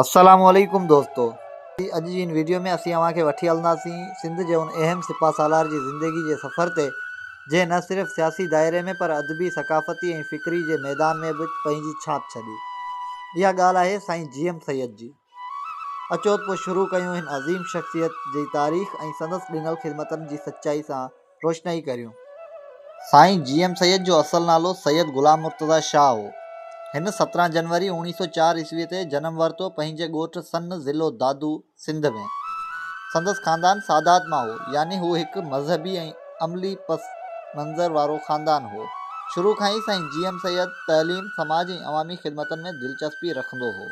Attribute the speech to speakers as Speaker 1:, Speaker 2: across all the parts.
Speaker 1: السلام عليڪم دوستو اڄ جي ان ويڊيو ۾ اسين اوهان کي وٺي هلنداسين سنڌ جي ان اهم سپاھ سالار جي زندگي جي سفر تي جنهن نه صرف سياسي دائري ۾ پر ادبي ثقافتي ۽ فڪري جي ميدان ۾ به پنهنجي ڇاپ ڇڏي اها ڳالھ آهي سائين جي ايم سيد جي اچو ته پوء شروع ڪيون هن عظيم شخصيت جي تاريخ ۽ سندس ڏنل خدمتن جي سچائي سان روشنائي ڪريون. سائين جي ايم سيد جو اصل نالو سيد غلام مرتضيٰ شاهه هو. هن سترهن جنوري اوڻيهه سؤ چار عيسويء تي جنم ورتو پنهنجي ڳوٺ سن ضلع دادو سنڌ ۾. سندس خاندان سادات مان هو، يعني هو هڪ مذهبي ۽ عملي پس منظر وارو خاندان هو. شروع کان ئي سائين جي ايم سيد تعليم، سماج ۽ عوامي خدمتن ۾ دلچسپي رکندو هو.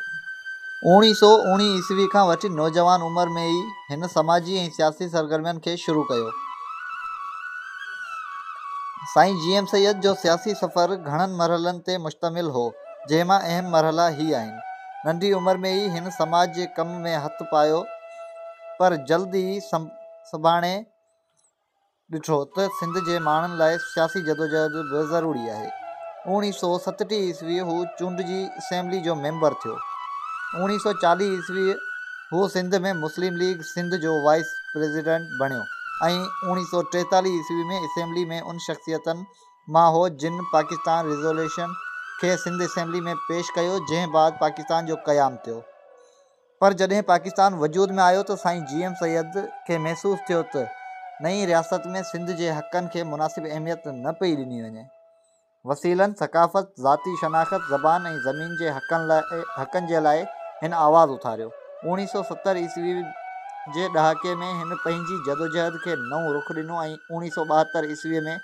Speaker 1: اوڻيهه سؤ اوڻيهه عيسوي کان وٺي نوجوان عمر ۾ ئي هن سماجي ۽ سياسي سرگرمين کي شروع ڪيو. سائين جي ايم سيد جو سياسي سفر گهڻن مرحلن تي مشتمل هو، جنهن مان اهم مرحلا هي آهن. ننڍي عمر ۾ ئي هن سماج جي ڪم ۾ هٿ پايو پر جلد ئي سڀاڻي ڏٺو ته سنڌ جي ماڻهن لاء سياسي جدوجهد به ضروري آهي. اوڻيهه سؤ ستٽيهه عيسوي هو چونڊجي اسيمبلي جو ميمبر ٿيو. اوڻيهه سؤ چاليهه عيسوي هو سنڌ ۾ مسلم ليگ سنڌ جو وائيس پريزيڊنٽ بڻيو ۽ اوڻيهه سؤ ٽيتاليهه عيسوي ۾ اسيمبلي ۾ ان شخصيتن مان هو جن پاڪستان ريزوليوشن کي سنڌ اسيمبلي ۾ پيش ڪيو جنهن بعد پاڪستان جو قيام ٿيو. پر جڏهن پاڪستان وجود ۾ آيو ته سائين جي ايم سيد کي محسوس ٿيو ته نئين رياست ۾ سنڌ جي حقن کي مناسب اهميت نه پئي ڏني وڃي. وسيلن، ثقافت، ذاتي شناخت، زبان ۽ زمين جي حقن جي لاء هن آواز اٿاريو. اوڻيهه سؤ ستر عيسوي جي ڏهاڪي ۾ هن پنهنجي جدوجهد کي نئون رخ ڏنو ۽ اوڻيهه سؤ ٻاهتر عيسوي ۾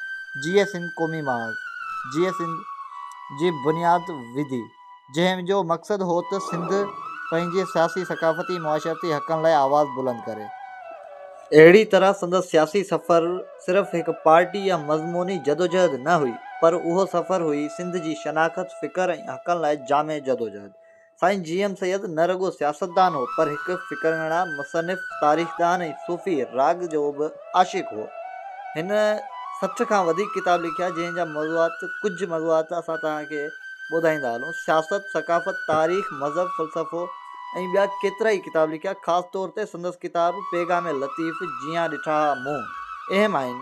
Speaker 1: جيئي سنڌ قومي محاذ، جيئي سنڌ، جي بنياد وڌي. جنهن جو مقصد هو ته سنڌ پنهنجي سياسي، ثقافتي، معاشرتي حقن لاء آواز بلند ڪري. اهڙي طرح سندس سياسي سفر صرف هڪ پارٽي يا مضموني جدوجهد نه هئي، پر اهو سفر هئي سنڌ جي شناخت، فڪر ۽ حقن لاء جامع جدوجهد. سائين جي ايم سيد نه رڳو سياستدان هو، پر هڪ فڪرنڙا، مصنف، تاريخدان ۽ صوفي راڳ جو به. عاشق هو. هن سٺ کان وڌيڪ ڪتاب لکيا، جنهن جا موضوعات ڪجهه موضوعات اسان توهان کي ٻڌائيندا هلون. سياست، ثقافت، تاريخ، مذهب، فلسفو ۽ ٻيا ڪيترائي ڪتاب لکيا. خاص طور تي سندس ڪتاب پيغام لطيف، جيان ڏٺا ها مون، اهم آهن.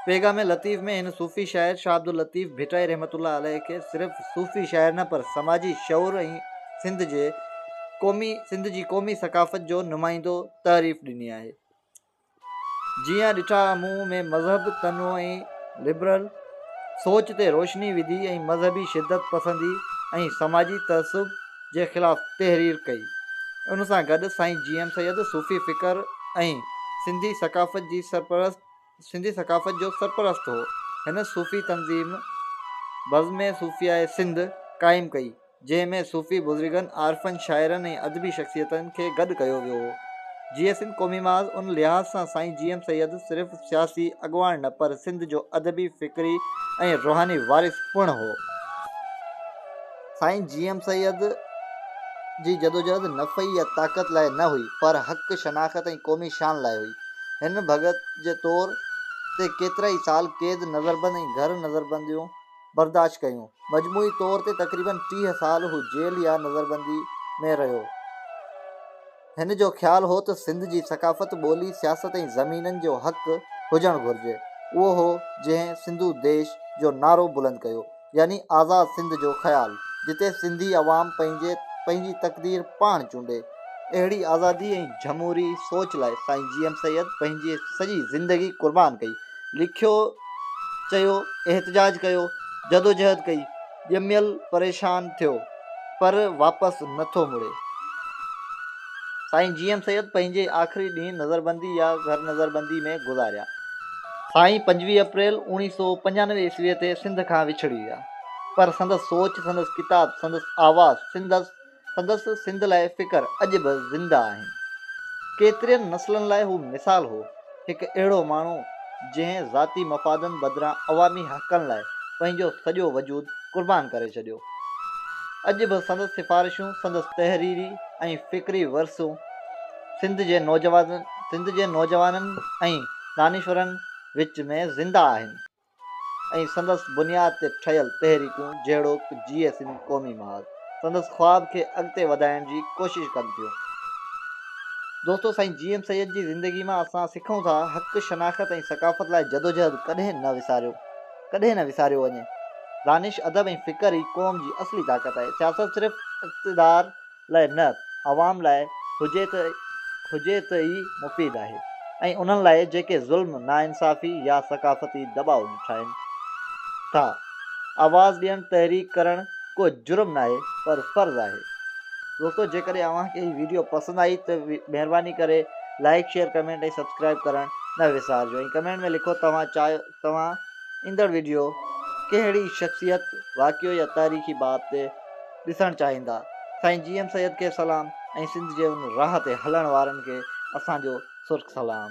Speaker 1: پيغام لطيف ۾ هن صوفي شاعر شاهه عبداللطيف ڀٽائي رحمة الله عليه کي صرف صوفي شاعر نه پر سماجي شعور ۽ سنڌ جي قومي سنڌ جي قومي ثقافت جو نمائندو تعريف ڏني آهي. جيئن ڏٺا مون ۾ مذهب تنوع ۽ لبرل سوچ تي روشني وڌي ۽ مذهبي شدت پسندي ۽ سماجي تعصب جي خلاف تحرير ڪئي. ان سان گڏ سائين جي ايم سيد صوفي فڪر ۽ سنڌي ثقافت جي سرپرست سنڌي ثقافت جو سرپرست هو. هن صوفي تنظيم بزم صوفياء سنڌ قائم ڪئي. جنهن ۾ صوفي بزرگن، عارفن، شاعرن ۽ ادبي شخصيتن کي گڏ ڪيو ويو هو. جيئي سنڌ قومي محاذ ان لحاظ سان سائين جي ايم سيد صرف سياسي اڳواڻ نه پر سنڌ جو ادبي، فڪري ۽ روحاني وارث پڻ هو. سائين جي ايم سيد جي جدوجهد نفعي يا طاقت لاء نه هئي پر حق، شناخت ۽ قومي شان لاء هئي. هن ڀڳت جي طور تي ڪيترائي سال قيد، نظربند ۽ گهر نظربنديون برداشت ڪيون. مجموعي طور تي تقريباً ٽيهه سال هو جيل يا نظربندي ۾ رهيو. هن جو خيال هو ته سنڌ جي ثقافت، ٻولي، سياست ۽ زمينن جو حق هجڻ گهرجي. اهو هو جنهن سنڌو ديش جو نعرو بلند ڪيو، يعني آزاد سنڌ جو خيال، جتي سنڌي عوام پنهنجي پنهنجي تقدير پاڻ چونڊي. اهڙي آزادي ۽ جھموري سوچ لاء سائين جي ايم سيد پنهنجي سڄي زندگي قربان ڪئي. لکيو چيو، احتجاج ڪيو، جدوجهد ڪئي، ڄميل پريشان ٿيو، پر واپس نه ٿو مڙي. سائين جي ايم سيد پنهنجي آخري ڏينهن نظربندي يا گهر نظربندي ۾ گذاريا. سائين پنجويهه اپريل اوڻيهه سؤ پنجانوي عيسويء تي سنڌ کان وڇڙي ويا، پر سندس سوچ، سندس ڪتاب، سندس آواز، سندس سندس سنڌ لاء فڪر اڄ به زنده آهن. ڪيترين نسلن لاء هو مثال هو. هڪ اهڙو ماڻهو جنهن ذاتي مفادن بدران عوامي حقن لاء پنهنجو سڄو وجود قربان ڪري ڇڏيو. اڄ به سندس سفارشون، سندس تحريري ۽ فڪري ورثو سنڌ جي نوجوانن ۽ دانشورن وچ ۾ زنده آهن. ۽ سندس بنياد تي ٺهيل تحريڪون جهڙوڪ جي ايس ايم قومي محاذ سندس خواب کي اڳتي وڌائڻ جي ڪوشش ڪن ٿيون. دوستو سائين جي ايم سيد جي زندگي مان اسان سکون ٿا حق شناخت ۽ ثقافت لاء جدوجهد ڪڏهن نه وساريو ڪڏهن نه وساريو وڃي دانش ادب ۽ فڪر ئي قوم جي اصلي طاقت آهي سياست صرف اقتدار لاء نه عوام لاء هجي ته هجي ته ئي مفيد آهي ۽ انهن لاء جيڪي ظلم، ناانصافي يا ثقافتي دٻاء ڏٺائين ٿا. آواز ڏيڻ تحريڪ ڪرڻ ڪو جرم ناهي پر فرض آهي. دوستو جيڪڏهن اوهان کي هي ويڊيو پسند آئي ته مهرباني ڪري لائيڪ شيئر ڪمينٽ ۽ سبسڪرائيب ڪرڻ نه وسارجو ۽ ڪمينٽ ۾ لکو توهان چاهيو توهان ايندڙ ويڊيو ڪهڙي شخصيت، واقعو يا تاريخي باب تي ڏسڻ چاهيندا. سائين جي ايم سيد کي سلام ۽ سنڌ جي ان راهه تي هلڻ وارن کي اسان جو سرخ سلام.